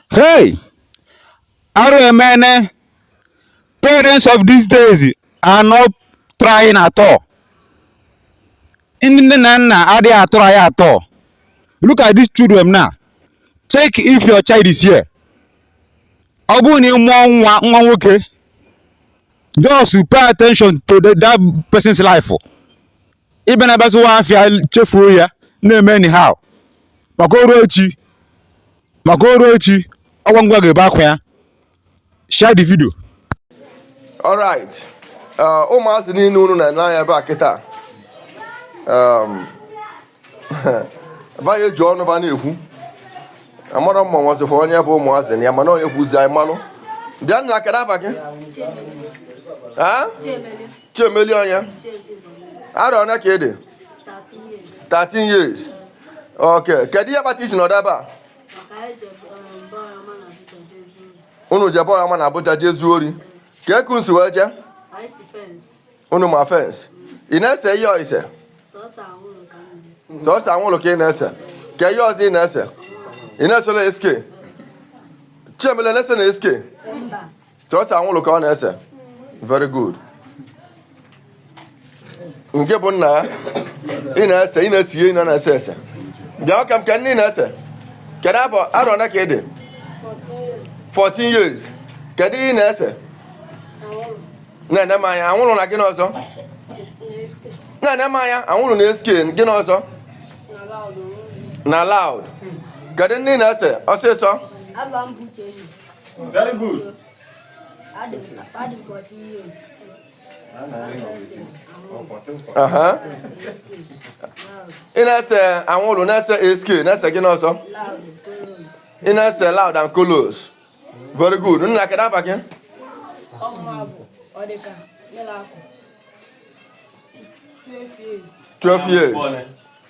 Hey! Arụ emene. Parents of these days are not trying at all. Ndị nne na nna adịghị atry at all. Look at these children now. Check if your child is here. Ọ bụrụ na ị mụọ nwa nwa nwoke, just pay attention to the, that person's life. ị bịa na-abịa zụwa afịa chefuo ya na-eme anyhow maka o rue echi maka o rue echi ọ gịnwa ga-ebe akwa ya share the video alright uh, ụmụazị niile unu na-ene anya ebe a kịta um, ba ga-eji ọnụ ba na-ekwu amarọ m ma e nwezikwa onye bụ ụmụazị na ya mana onye kwuzi anyị malụ bịa nna kedụ afa gị Chiemelie onye arọ ole ka ị dị 13 years ok kedu ihe kpata i ji nọdụ ebe a unu jebe ọya ma na Abuja jee zuo ori kee ka unu si wee jee unu ma fensị ị na-ese ihe osise sọsọ anwụlụ ka ị na-ese kee ihe ọzọ ị na-ese ị na-ese na sk Chiemelie na-ese na sk sọsọ anwụrụ ka ọ na-ese very good nke bụ nna ya ị na-ese ị na-ese ihe a na-ese ese bịa kee kee nke ị na-ese kedu arọ ole ka ị dị 14 years kedu ihe ị na-ese na-ene m anya anwụrụ na gịnị ọzọ na-ene m anya anwụrụ na sk gịnị ọzọ na loud kedu nke ị na-ese ọsịsọ Afa m bụ Uchenna. Very good. ị na-ese anwụrụ na-ese sk na-ese gịnị ọzọ ị na-ese loud and colos very good nna kedu afa gị Twelve years.